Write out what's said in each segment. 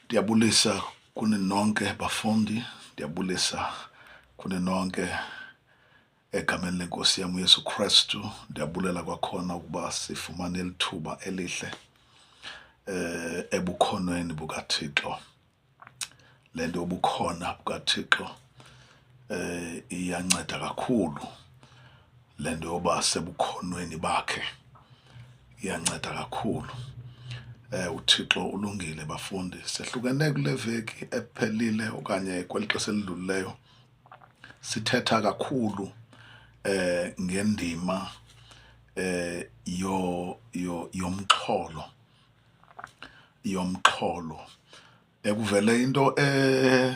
Ndiyabulisa kuni nonke bafundi, ndiyabulisa kuni nonke egameni lenkosi yam uYesu Krestu. Ndiyabulela kwakhona ukuba sifumane eli thuba elihle eh ebukhonweni bukaThixo. le nto yobukhona bukaThixo eh iyanceda kakhulu le nto yoba sebukhonweni bakhe iyanceda kakhulu eh uThixo ulungile bafundi sehlukene kule veki ephelile okanye kweli xesha elidlulileyo sithetha kakhulu eh ngendima eh yo yo yomxholo yomxholo bekuvele into e,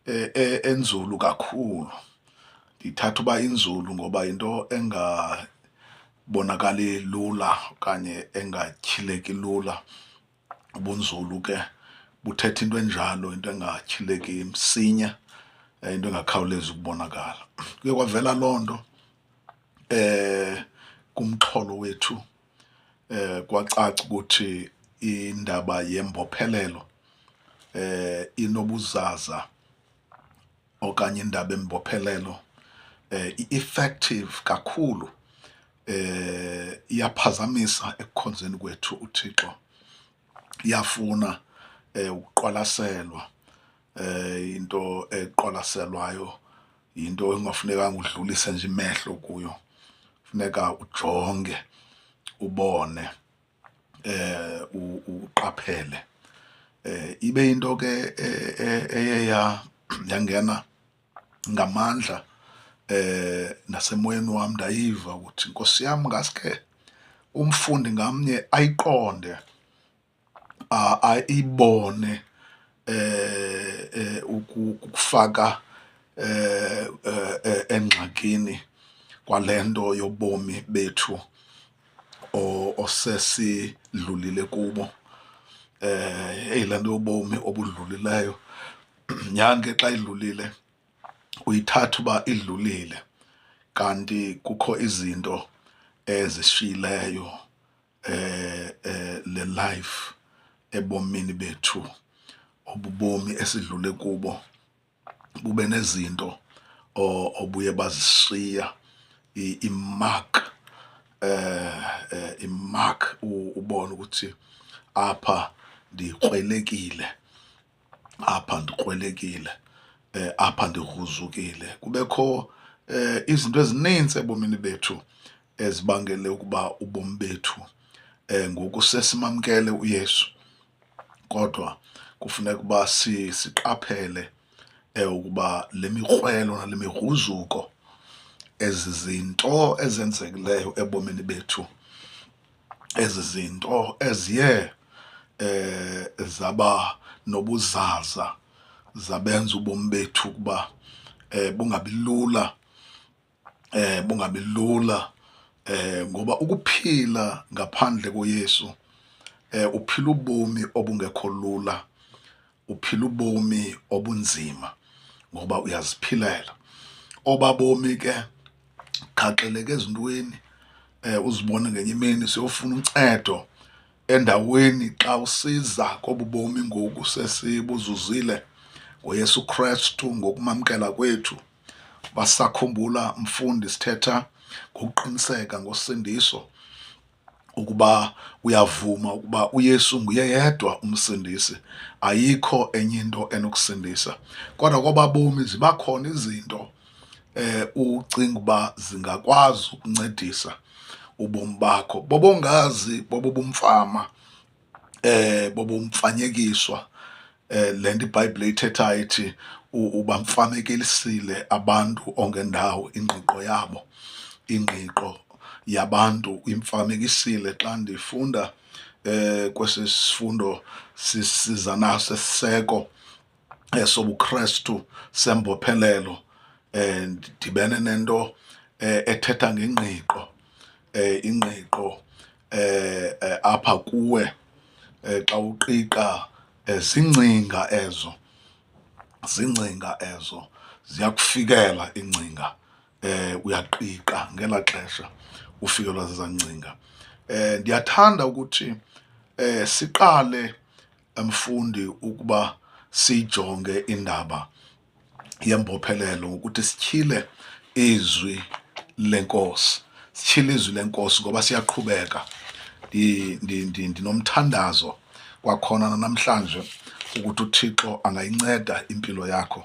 e, e, enzulu kakhulu ndithatha uba inzulu ngoba into engabonakali lula okanye engatyhileki lula ubunzulu ke buthetha into enjalo into engatyhileki msinya eh, into engakhawulezi ukubonakala kuye kwavela loo nto um kumxholo wethu eh, kwacaca ukuthi indaba yembophelelo eh, inobuzaza okanye indaba embophelelo eh, i-effective kakhulu eh, iyaphazamisa ekukhonzeni kwethu uThixo iyafuna eh, ukuqwalaselwa eh, into eqwalaselwayo yinto engafunekanga udlulise nje imehlo kuyo funeka ujonge ubone eh uqaphele eh ibe into ke eh, eh, eye yangena ngamandla eh nasemoyeni wami ndayiva ukuthi inkosi yami ngaske umfundi ngamnye ayiqonde ibone ukufaka engxakini kwale nto yobomi bethu osesidlulile kubo. Eyi, le nto yobomi obudlulileyo nyhani ke xa idlulile uyithatha uba idlulile kanti kukho izinto ezishiyileyo eh, eh, le life ebomini bethu obubomi esidlule kubo kube nezinto obuye bazishiya imark eh, eh imark ubona ukuthi apha ndikrwelekile apha ndikrwelekile um apha ndigruzukile kubekho um izinto ezininzi ebomini bethu ezibangele ukuba ubomi bethu um ngoku sesimamkele uyesu kodwa kufuneka uba siqaphele um ukuba le mikrwelo nale migruzuko ezi zinto ezenzekileyo ebomini bethu ezi zinto eziye eh zaba nobuzaza zabenza ubomi bethu ukuba eh bungabilula eh bungabilula eh ngoba ukuphila ngaphandle koYesu eh uphila ubomi obungekho lula uphila ubomi obunzima ngoba uyaziphilela oba bomi ke qhaqheleke ezintweni um uzibone ngenye imini siyofuna uncedo endaweni xa usiza kobu bomi ngoku sesibuzuzile ngoyesu krestu ngokumamkela kwethu basakhumbula mfundi sithetha ngokuqiniseka ngosindiso ukuba uyavuma ukuba uYesu nguye yedwa umsindisi, ayikho enye into enokusindisa. Kodwa kwaba bomi ziba khona izinto eh ucinga uba zingakwazi ukuncedisa ubomi bakho bobongazi bobubumfama eh bobo umfanyekiswa eh le nto ibhayibhile ithethayo ithi ubamfamekelisile abantu ongendawo ingqiqo yabo ingqiqo yabantu imfamekisile xa ndifunda eh kwesi sifundo siza naso siseko eh, sobuKristu sembophelelo eh, ndidibene nento eh, ethetha ngengqiqo eh, ingqiqo eh, eh, apha kuwe eh, xa uqiqa eh, zingcinga ezo zingcinga ezo ziyakufikela ingcinga eh uyaqiqa ngela xesha ufikelwa zezangcinga eh ndiyathanda ukuthi eh siqale mfundi ukuba siyijonge indaba yembophelelo ngokuthi sityhile izwi lenkosi sityhile izwi lenkosi ngoba siyaqhubeka ndinomthandazo kwakhona nanamhlanje ukuthi uthixo angayinceda impilo yakho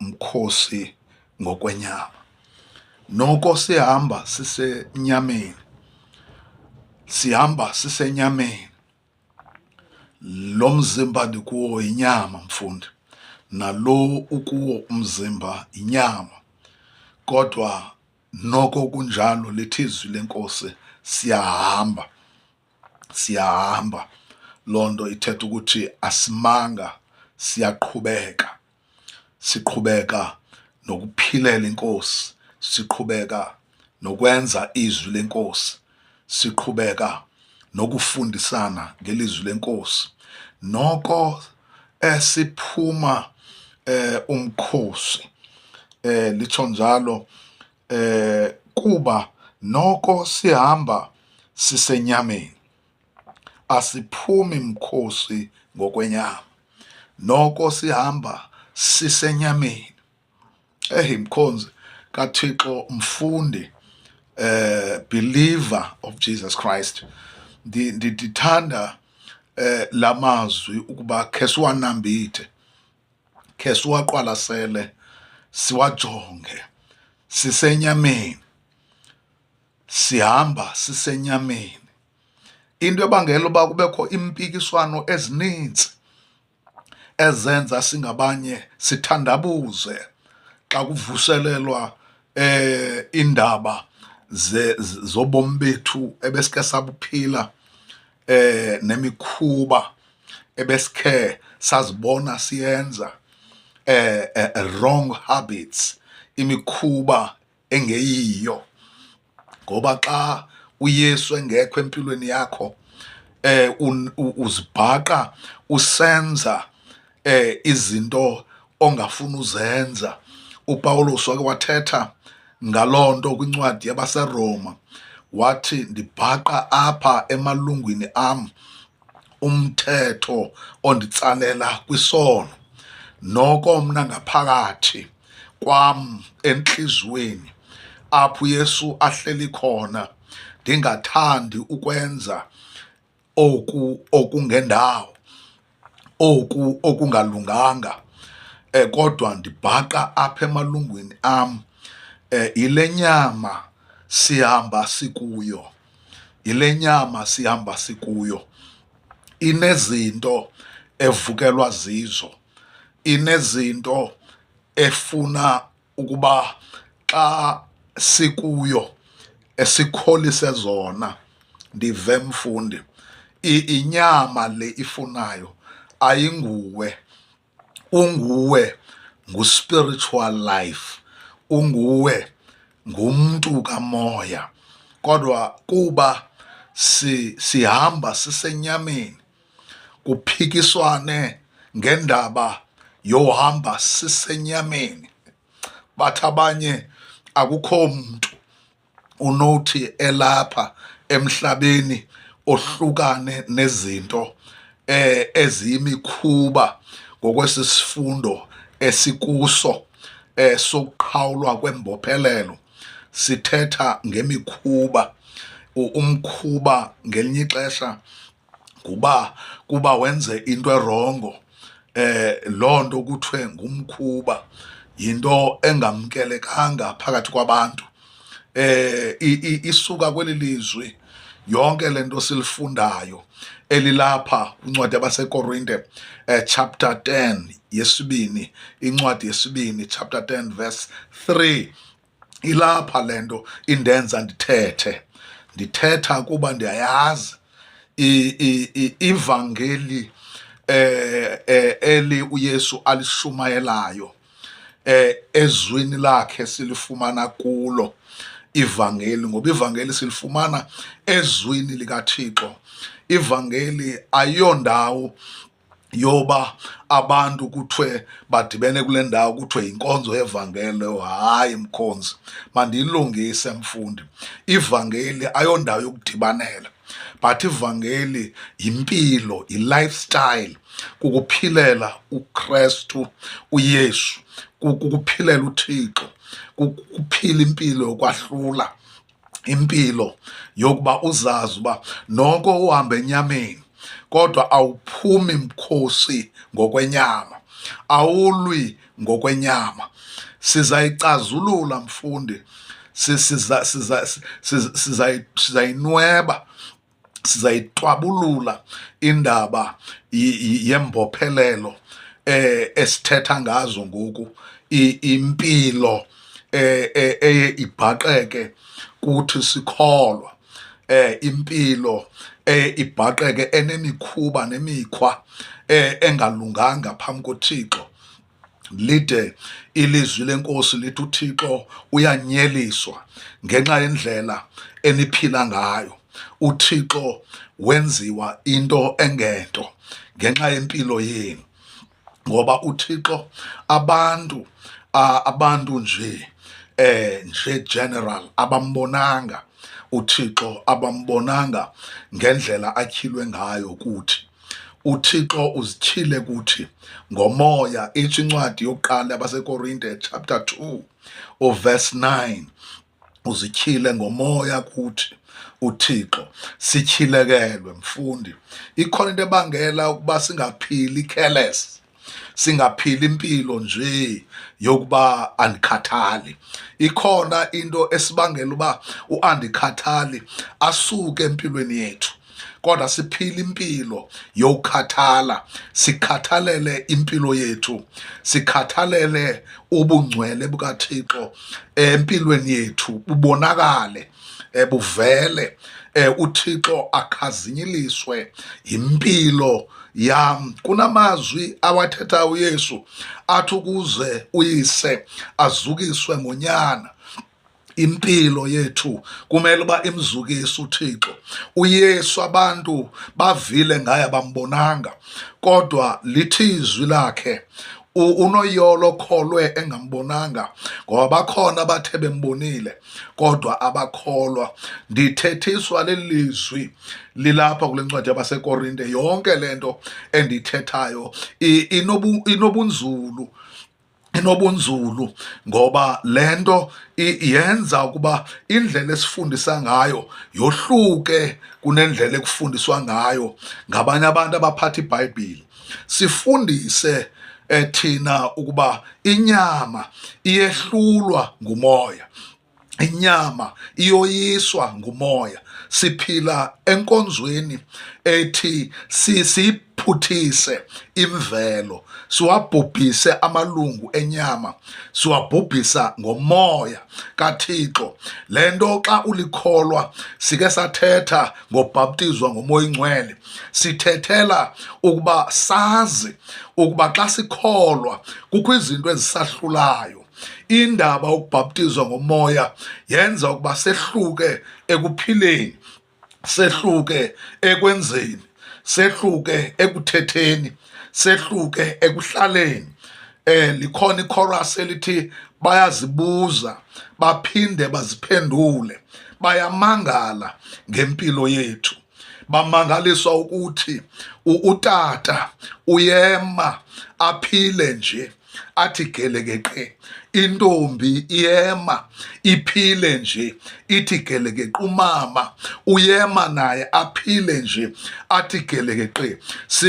mkhosi ngokwenyama. Noko sihamba sisenyameni, sihamba sisenyameni. Lo mzimba ndikuwo yinyama mfundi, nalo ukuwo umzimba yinyama. Kodwa noko kunjalo lithi izwi lenkosi siyahamba, siyahamba. Loo nto ithetha ukuthi asimanga siyaqhubeka. siqhubeka nokuphilela inkosi siqhubeka nokwenza izwi lenkosi siqhubeka nokufundisana ngelizwi lenkosi noko esiphuma eh, eh umkhosi eh litsho njalo eh kuba noko sihamba sisenyameni asiphumi mkhosi ngokwenyama noko sihamba sisenyameni ehi mkhonzi kathixo mfundi eh believer of Jesus Christ ndithanda eh lamazwi ukuba khe siwanambithe khe siwaqwalasele siwajonge sisenyameni sihamba sisenyameni. Into ebangela uba kubekho impikiswano ezininzi ezenza singabanye sithandabuze xa kuvuselelwa eh indaba zobomi bethu ebesike sabuphila eh nemikhuba ebesikhe sazibona siyenza eh, eh wrong habits imikhuba engeyiyo ngoba xa uyesu engekho empilweni yakho eh uzibhaqa usenza eh izinto ongafuni uzenza upawulos wake wathetha ngaloo nto kwincwadi yabaseroma wathi ndibhaqa apha emalungwini am umthetho onditsalela kwisono noko mna ngaphakathi kwam entliziyweni apho uyesu ahleli khona ndingathandi ukwenza oku okungendawo oku okungalunganga eh kodwa ndibhaqa apha emalungwini am eh yile nyama sihamba sikuyo yile nyama sihamba sikuyo inezinto evukelwa zizo inezinto efuna ukuba xa sikuyo esikholise zona ndive mfundi inyama le ifunayo ayinguwe unguwe ngu-spiritual life unguwe ngumntu kamoya kodwa kuba si, sihamba sisenyameni kuphikiswane ngendaba yohamba sisenyameni bathi abanye akukho mntu unothi elapha emhlabeni ohlukane nezinto eh eziyimikhuba ngokwesisifundo esikuso eh sokuqhawulwa kwembophelelo sithetha ngemikhuba umkhuba ngelinye ixesha nguba kuba wenze into erongo eh loo nto kuthiwe ngumkhuba yinto engamkelekanga phakathi kwabantu eh isuka kweli lizwi yonke le nto silifundayo elilapha kwincwadi yabasekorinte eh, chapter 10 yesibini incwadi yesibini chapter 10 verse 3 ilapha le nto indenza ndithethe ndithetha kuba ndiyayazi ivangeli eh, eh eli uYesu alishumayelayo eh ezwini lakhe silifumana kulo ivangeli ngoba ivangeli silifumana ezwini likaThixo ivangeli ayondawo yoba abantu kuthiwe badibene kule ndawo kuthiwe yinkonzo yevangelo hayi mkhonzi mandiyilungise mfundi ivangeli ayondawo yokudibanela but ivangeli yimpilo yi-lifestyle kukuphilela ukrestu uyesu kukuphilela uthixo kukuphila impilo yokwahlula impilo yokuba uzazi uba noko uhamba enyameni kodwa awuphumi mkhosi ngokwenyama awulwi ngokwenyama sizayicazulula mfundi sizayinweba sizayitwabulula indaba yembophelelo eh esithetha ngazo ngoku impilo eh, eh eye ibhaqeke kuthi sikholwa eh impilo eye ibhaqeke enemikhuba nemikhwa eh engalunganga phambi koThixo lide ilizwi lenkosi lithi uthixo uyanyeliswa ngenxa yendlela eniphila ngayo uthixo wenziwa into engento ngenxa yempilo yenu ngoba uthixo abantu abantu nje eh nje general abambonanga uthixo abambonanga ngendlela atyhilwe ngayo kuthi uthixo uzithyile kuthi ngomoya itsho incwadi yokuqala abasekorinte chapter 2 overse 9 uzityhile ngomoya kuthi uthixo sityhilekelwe mfundi ikhona into ebangela ukuba singaphili careless singaphili impilo nje yokuba andikhathali ikhona into esibangela uba uandikhathali asuke empilweni yethu kodwa siphila impilo yokukhathala sikhathalele impilo yethu sikhathalele ubungcwele bukathixo empilweni yethu bubonakale ebuvele eh, eh, uThixo akhazinyiliswe yimpilo yam kunamazwi awathetha uYesu athi ukuze uyise azukiswe ngonyana impilo yethu kumele uba imzukise uthixo uyesu abantu bavile ngaye bambonanga kodwa lithi izwi lakhe unoyolo okholwe engambonanga ngoba bakhona abathe bembonile kodwa abakholwa ndithethiswa lilizwi lilapha kule ncwadi yabasekorinte yonke le nto endiyithethayo inobunzulu inobunzulu ngoba le nto yenza ukuba indlela esifundisa ngayo yohluke kunendlela ekufundiswa ngayo ngabanye abantu abaphatha ibhayibhile sifundise eh, thina ukuba inyama iyehlulwa ngumoya inyama iyoyiswa ngumoya siphila enkonzweni ethi sisiphuthise imvelo siwabhubhise amalungu enyama siwabhubhisa ngomoya kaThixo le nto xa ulikholwa sike sathetha ngobhaptizwa ngomoya ingcwele sithethela ukuba sazi ukuba xa sikholwa kukho izinto ezisahlulayo indaba ukubhaptizwa ngomoya yenza ukuba sehluke ekuphileni sehluke ekwenzeni sehluke ekuthetheni sehluke ekuhlaleni eh likhona ichorus elithi bayazibuza baphinde baziphendule bayamangala ngempilo yethu bamangaliswa ukuthi utata uyema aphile nje athi gelekeqe intombi iyema iphile nje ithi geleke kumama uyema naye aphile nje athi geleke qi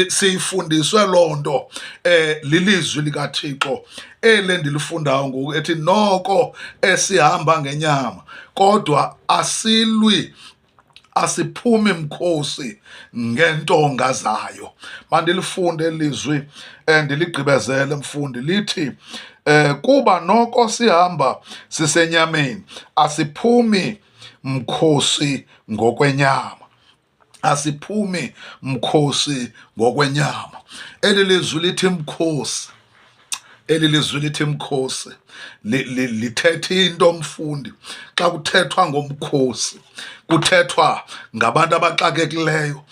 siyifundiswe loo nto um eh, lilizwi likathixo ele ndilifundayo ngoku ethi noko esihamba ngenyama kodwa asilwi asiphumi mkhosi ngentonga zayo mandilifunde lizwi um ndiligqibezele mfundi lithi Eh, kuba noko sihamba sisenyameni asiphumi mkhosi ngokwenyama asiphumi mkhosi ngokwenyama eli lizwi lithi mkhosi eli lizwi lithi mkhosi lithetha into mfundi xa kuthethwa ngomkhosi kuthethwa ngabantu abaxakekileyo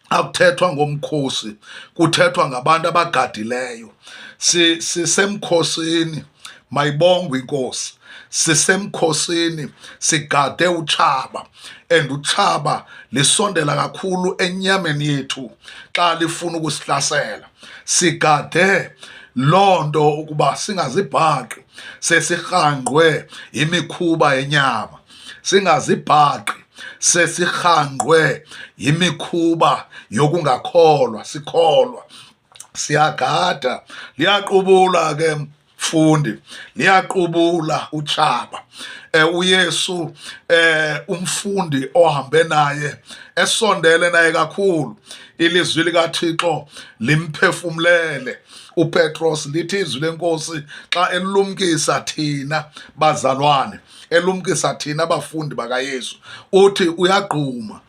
akuthethwa ngomkhosi kuthethwa ngabantu abagadileyo sisemkhosini mayibongwe inkosi sisemkhosini sigade utshaba and utshaba lisondela kakhulu enyameni yethu xa lifuna ukusihlasela sigade loo nto ukuba singazibhaqi sesirhangqwe yimikhuba yenyama singazibhaqi sesirhangqwe yimikhuba yokungakholwa sikholwa siyagada liyaqubula ke mfundi liyaqubula utshaba eh uYesu eh umfundi ohambe naye esondele naye kakhulu ilizwi likaThixo limphefumlele uPetros lithi izwi lenkosi xa elumkisa thina bazalwane elumkisa thina abafundi bakaYesu uthi uyagquma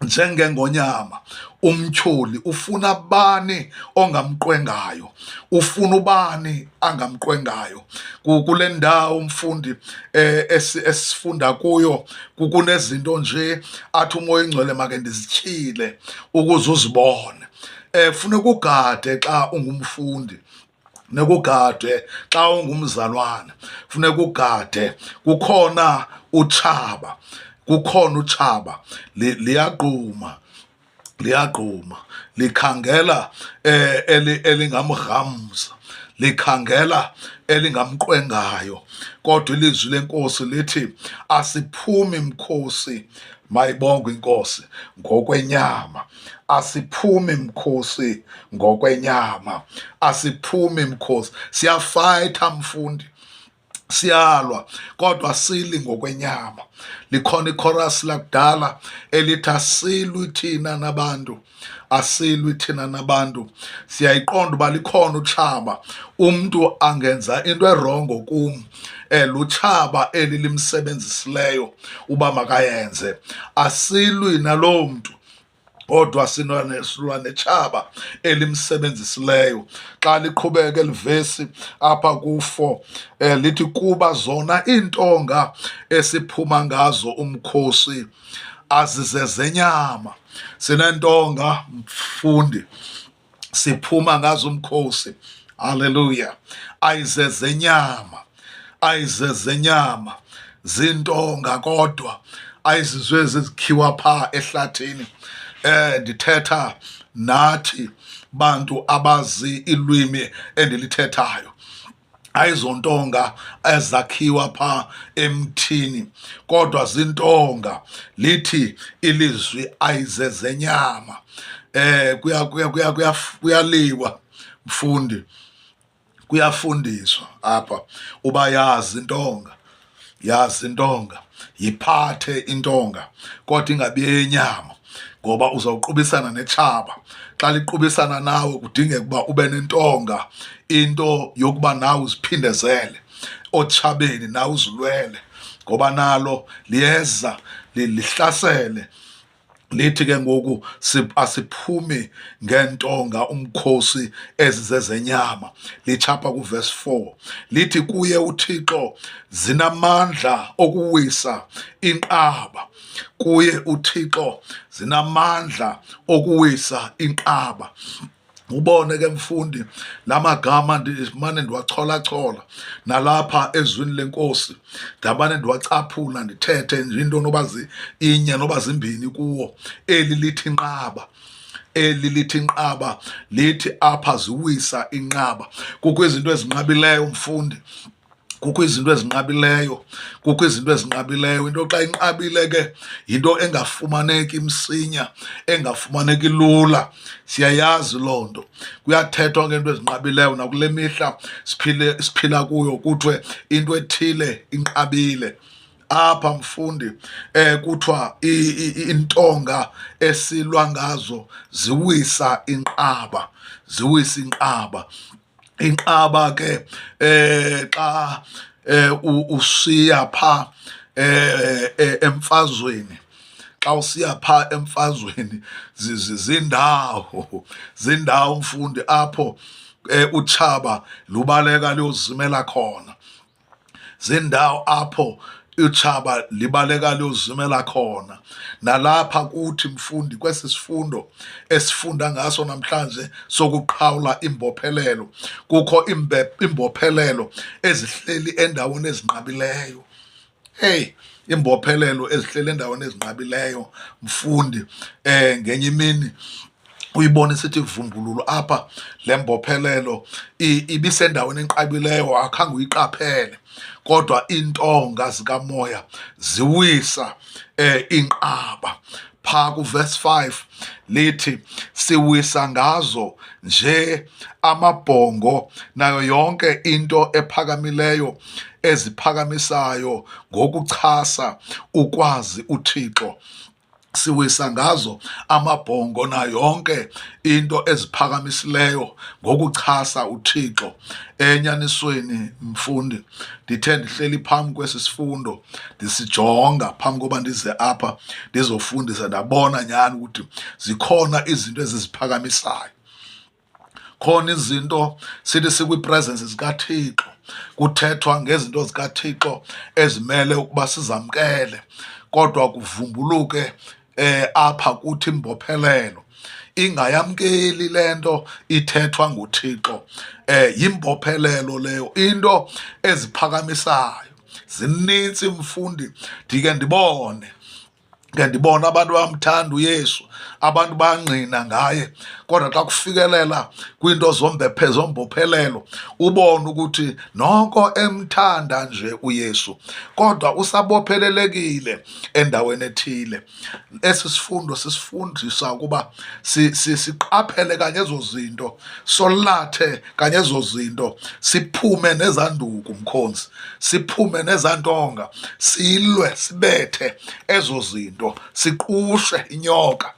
njengengonyama umtyholi ufuna bani ongamqwengayo ufuna ubani angamqwengayo kule ndawo umfundi eh, esifunda kuyo kunezinto nje athi umoya oyingcwele make ndizityhile ukuze uzibone um eh, funeka ugade xa ungumfundi funeka ugade xa ungumzalwana funeka ugade kukhona utshaba kukhona utshaba liyaquma liyaquma likhangela eh, elingamghamza likhangela elingamqwengayo kodwa ilizwi lenkosi lithi asiphumi mkhosi mayibongwe inkosi ngokwenyama asiphumi mkhosi ngokwenyama asiphumi mkhosi siyafayitha mfundi siyalwa kodwa sili ngokwenyama likhona ichorus lakudala elithi asilwi thina nabantu asilwi thina nabantu siyayiqonda uba likhona utshaba umntu angenza into erongo kum eh luchaba eli limsebenzisileyo uba makayenze asilwi naloo mntu kodwa silwa netshaba elimsebenzisileyo xa liqhubeke livesi apha kufo eh, lithi kuba zona iintonga esiphuma ngazo umkhosi azizezenyama sinentonga mfundi siphuma ngazo umkhosi haleluya ayizezenyama ayizezenyama zintonga kodwa ayizizwe ezizikhiwa phaa ehlathini eh ndithetha nathi bantu abazi ilwimi endilithethayo ayizontonga ezakhiwa pha emthini kodwa zintonga lithi ilizwi ayizezenyama eh kuya kuya kuya kuyaliwa mfundi kuyafundiswa apha uba yazi intonga yazi intonga yiphathe intonga kodwa ingabi yenyama ngoba uzawuqubisana netshaba xa liqubisana nawe kudingeka ukuba ube nentonga into yokuba nawe uziphindezele otshabeni nawe uzilwele ngoba nalo liyeza lihlasele lithi ke ngoku asiphumi ngentonga umkhosi ezizezenyama lichapha kuvesi 4 lithi kuye uthixo zinamandla okuwisa inqaba kuye uthixo zinamandla okuwisa inqaba ubone ke mfundi la magama ndimane ndiwacholachola nalapha ezwini lenkosi ndamane ndiwacaphula ndithethe into noba inye noba zimbini kuwo eli lithi nqaba eli lithi inqaba lithi apha ziwisa inqaba kukho izinto ezinqabileyo mfundi kukho izinto ezinqabileyo kukho izinto ezinqabileyo into xa inqabile ke yinto engafumaneki msinya engafumaneki lula siyayazi loo nto kuyathethwa ngento ezinqabileyo nakule mihla siphile siphila kuyo kuthiwe into ethile inqabile apha mfundi eh kuthiwa intonga esilwa ngazo ziwisa inqaba ziwisa inqaba inqaba ke eh xa eh usiya pha eh, eh emfazweni xa usiya pha emfazweni zindawo zindawo mfundi apho eh, utshaba lubaleka luyozimela khona ziindawo apho utshaba libaleka liyozimela khona nalapha kuthi mfundi kwesi sifundo esifunda ngaso namhlanje sokuqhawula imbophelelo kukho imbophelelo ezihleli endaweni ezinqabileyo hey imbophelelo ezihleli endaweni ezinqabileyo mfundi eh ngenye imini uyibona isithi vumbululu apha le mbophelelo ibisendaweni enqabileyo akhange uyiqaphele kodwa iintonga zikamoya ziwisa um inqaba pha kuvesi 5 lithi siwisa ngazo nje amabhongo nayo yonke into ephakamileyo eziphakamisayo ngokuchasa ukwazi uthixo siwisa ngazo amabhongo na yonke into eziphakamisileyo ngokuchasa uThixo. Enyanisweni mfundi, ndithe ndihleli phambi kwesi sifundo ndisijonga phambi koba ndize apha ndizofundisa, ndabona nyhani ukuthi zikhona izinto eziziphakamisayo khona izinto sithi sikwiipresensi zikathixo kuthethwa ngezinto zikathixo ezimele ukuba sizamkele kodwa kuvumbuluke eh apha kuthi imbophelelo ingayamkeli lento ithethwa nguThixo eh yimbophelelo leyo into eziphakamisayo zininzi mfundi ndike ndibone ke ndibona abantu bamthanda uyesu abantu bangqina ngaye kodwa xa kufikelela kwiinto zombephe zombophelelo ubone ukuthi noko emthanda nje uyesu kodwa usabophelelekile endaweni ethile esi sifundo sisifundisa ukuba siqaphele kanye ezo zinto solathe kanye ezo zinto siphume nezanduku mkhonzi siphume nezantonga silwe sibethe ezo zinto siqushe inyoka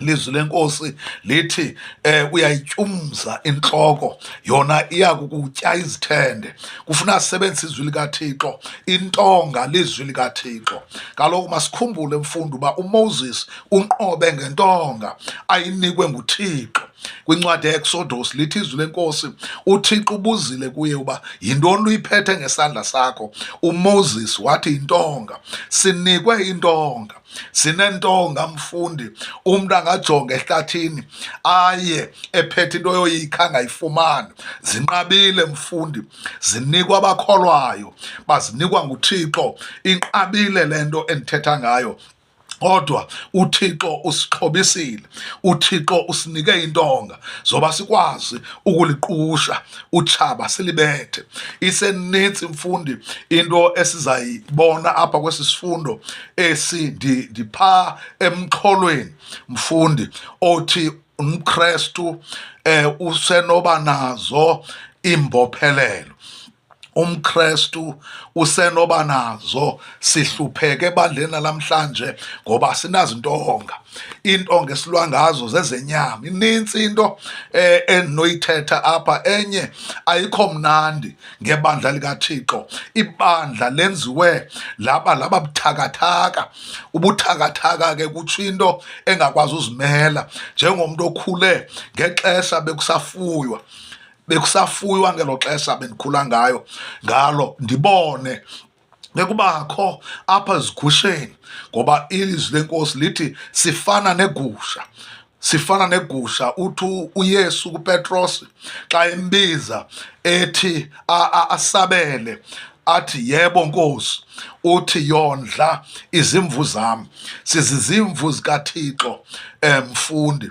lizwi lenkosi lithi eh uyayityumza inhloko yona iya kukutya izithende kufuna asebenzise izwi likaThixo intonga lizwi likaThixo kaloku masikhumbule mfundo uba uMoses unqobe ngentonga ayinikwe nguThixo kwincwadi yeExodus lithi izwi lenkosi uthixo ubuzile kuye uba yintoni luyiphethe ngesandla sakho umoses wathi yintonga sinikwe intonga sinentonga mfundi umntu angajonga ehlathini aye ephethe into yoyikha angayifumani zinqabile mfundi zinikwa abakholwayo bazinikwa nguthixo inqabile le nto endithetha ngayo kodwa uthixo usixhobisile uthixo usinike intonga zoba sikwazi ukuliqusha utshaba silibethe isenintsi mfundi into esizayibona apha kwesi sifundo esi ndipha emxholweni mfundi othi umkrestu um usenoba nazo iimbophelelo umKristu usenoba nazo sihlupheke ebandleni namhlanje ngoba sinazintonga iintonga esilwa ngazo zezenyama inintsi into eh, endinoyithetha apha enye ayikho mnandi ngebandla likathixo ibandla lenziwe laba laba buthakathaka ubuthakathaka ke kutsho into engakwazi uzimela njengomntu okhule ngexesha bekusafuywa bekusafuywa ngelo xesha bendikhula ngayo ngalo ndibone bekubakho apha ezigusheni ngoba ilizwi lenkosi lithi sifana negusha sifana negusha uthi uYesu kuPetros xa embiza ethi asabele athi yebo nkosi uthi yondla izimvu zami sizizimvu zikaThixo eh, mfundi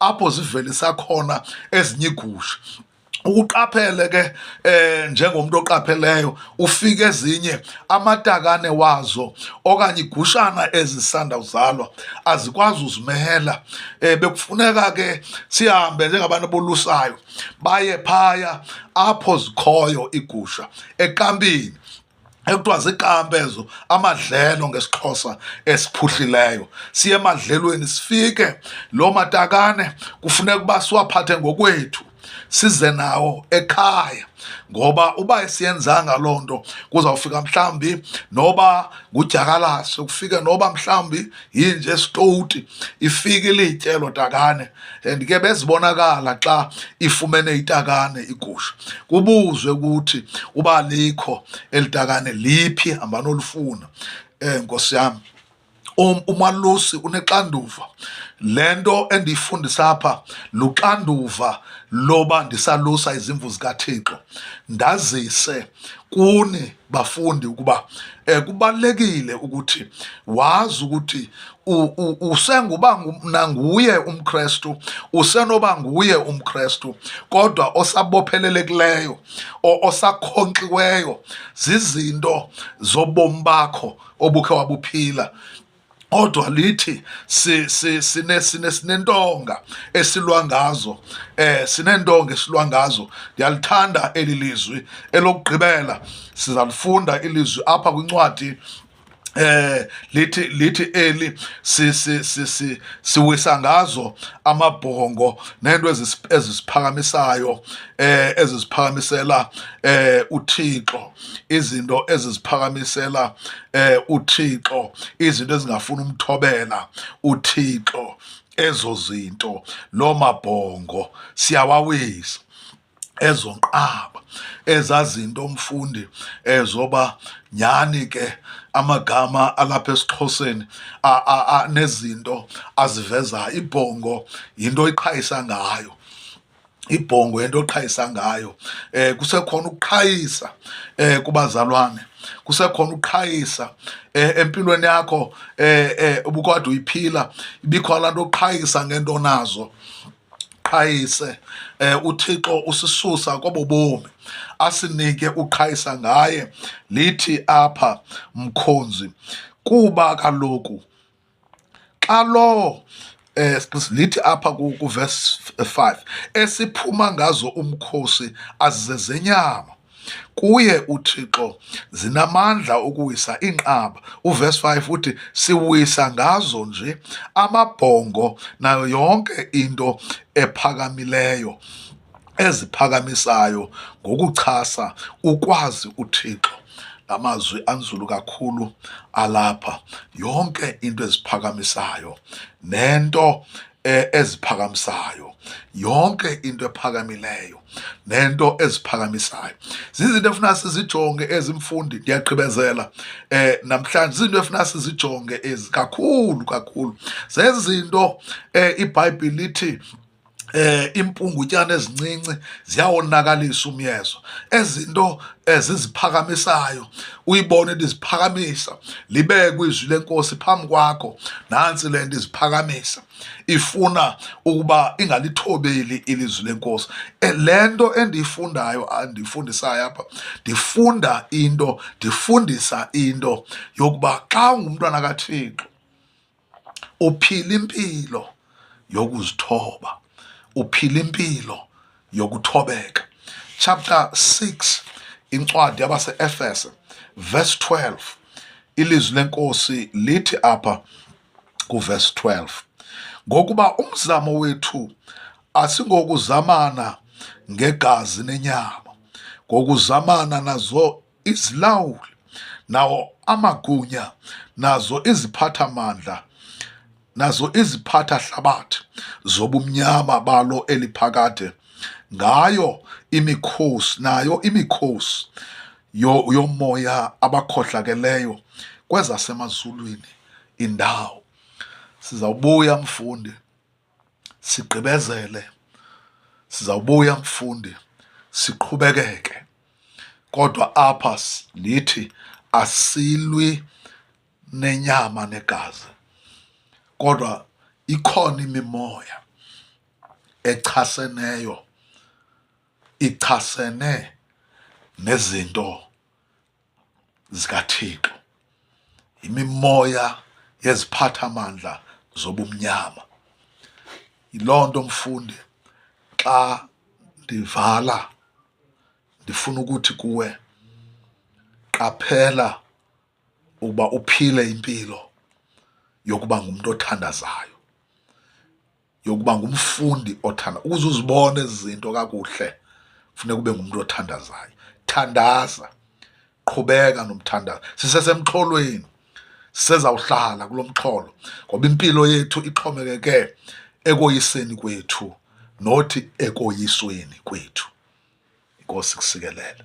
apho zivelisa khona ezinye iigusha ukuqaphele ke eh njengomuntu oqapheleyo ufike ezinye amatakane wazo okanye igushana ezisanda uzalwa azikwazi uzimehela eh bekufuneka ke sihambe njengabantu bolusayo baye phaya apho zikhoyo igusha eqampini ekuthiwa ziikampa ezo amadlelo ngesixhosa esiphuhlileyo siye emadlelweni sifike loo matakane kufuneka uba siwaphathe ngokwethu size nawo ekhaya ngoba uba esiyenzanga loo nto kuzawufika mhlawumbi noba ngudyakalashe kufike noba mhlawumbi yinje esitowuti ifike ilitye elo takane and ke bezibonakala xa ifumene itakane igusha kubuzwe ukuthi uba likho eli takane liphi hamba nolifuna um eh, nkosi yami um umalusi unexanduva le nto endiyifundisa apha luxanduva loba ndisalusa izimvu zikathixo ndazise kuni bafundi ukuba eh kubalekile ukuthi wazi ukuthi usenguba nanguye umKristu usenoba nguye umKristu kodwa osabophelelekileyo osakhonkxiweyo zizinto zobomi bakho obukhe wabuphila kodwa lithi sinentonga esilwa ngazo eh sinentonga esilwa ngazo ndiyalithanda eli lizwi elokugqibela sizalifunda ilizwi apha kwincwadi eh lithi lithi eli si si si si siwisa ngazo amabhongo nento ezisiphakamisayo eh ezisiphakamisela eh uThixo izinto eziziphakamisela eh uThixo izinto ezingafuna umthobela uThixo ezo zinto lo mabhongo siyawawisa ezo nqaba ezazinto umfundi ezoba nyhani ke amagama alapha esiXhoseni nezinto azivezayo ibhongo yinto iqhayisa ngayo ibhongo yento oqhayisa ngayo eh kusekhona ukuqhayisa eh kubazalwane kusekhona ukuqhayisa eh empilweni yakho eh eh ubukwade uyiphila ibikho lanto oqhayisa ngento nazo qhayise eh uThixo usisusa kobo bomi asinike uqhayisa ngaye lithi apha mkhonzi kuba kaloku xa lowo eh lithi apha kuverse 5 esiphuma ngazo umkhosi azizezenyama kuye uThixo zinamandla ukuwisa iinqaba uverse 5 uthi siwisa ngazo nje amabhongo nayo yonke into ephakamileyo eziphakamisayo ngokuchasa ukwazi uThixo namazwi anzulu kakhulu alapha yonke into eziphakamisayo nento eh, eziphakamisayo yonke into ephakamileyo nento eziphakamisayo zizinto efuna sizijonge ezimfundi ndiyagqibezela eh namhlanje izinto efuna sizijonge ezi kakhulu kakhulu zezinto eh iBhayibhile lithi eh impungutyana ezincinci ziyawonakalisa umyezo ezinto eziziphakamisayo eh, uyibone ndiziphakamisa libekwe izwi lenkosi phambi kwakho nantsi le nto iziphakamisa ifuna ukuba ingalithobeli ilizwi lenkosi eh, le nto endiyifundayo ah, ndiyifundisayo apha ndifunda into ndifundisa into yokuba xa ungumntwana kathixo uphila impilo yokuzithoba uphila impilo yokuthobeka chapter 6 incwadi yabaseefese verse 12 ilizwi lenkosi lithi apha kuverse 12 ngokuba umzamo wethu asingokuzamana ngegazi nenyama ngokuzamana nazo izilawuli nawo amagunya nazo iziphatha mandla nazo iziphatha hlabathi zobumnyama balo eliphakade ngayo imikhosi nayo imikhosi yomoya abakhohlakeleyo kwezasemazulwini indawo sizawubuya mfundi sigqibezele, sizawubuya mfundi siqhubekeke. Kodwa apha ndithi asilwi nenyama negazi, kodwa ikhona imimoya echaseneyo, ichasene nezinto zikaThixo, yimimoya yeziphathamandla zobumnyama. Yiloo nto mfundi, xa ndivala ndifuna ukuthi kuwe qaphela uba uphile impilo yokuba ngumntu othandazayo. yokuba ngumfundi othanda ukuze uzibone ezi zinto kakuhle funeka ube ngumntu othandazayo thandaza qhubeka nomthandazo sisesemxholweni sisezawuhlala kulo mxholo ngoba impilo yethu ixhomekeke ekoyiseni kwethu nothi ekoyisweni kwethu inkosi kusikelele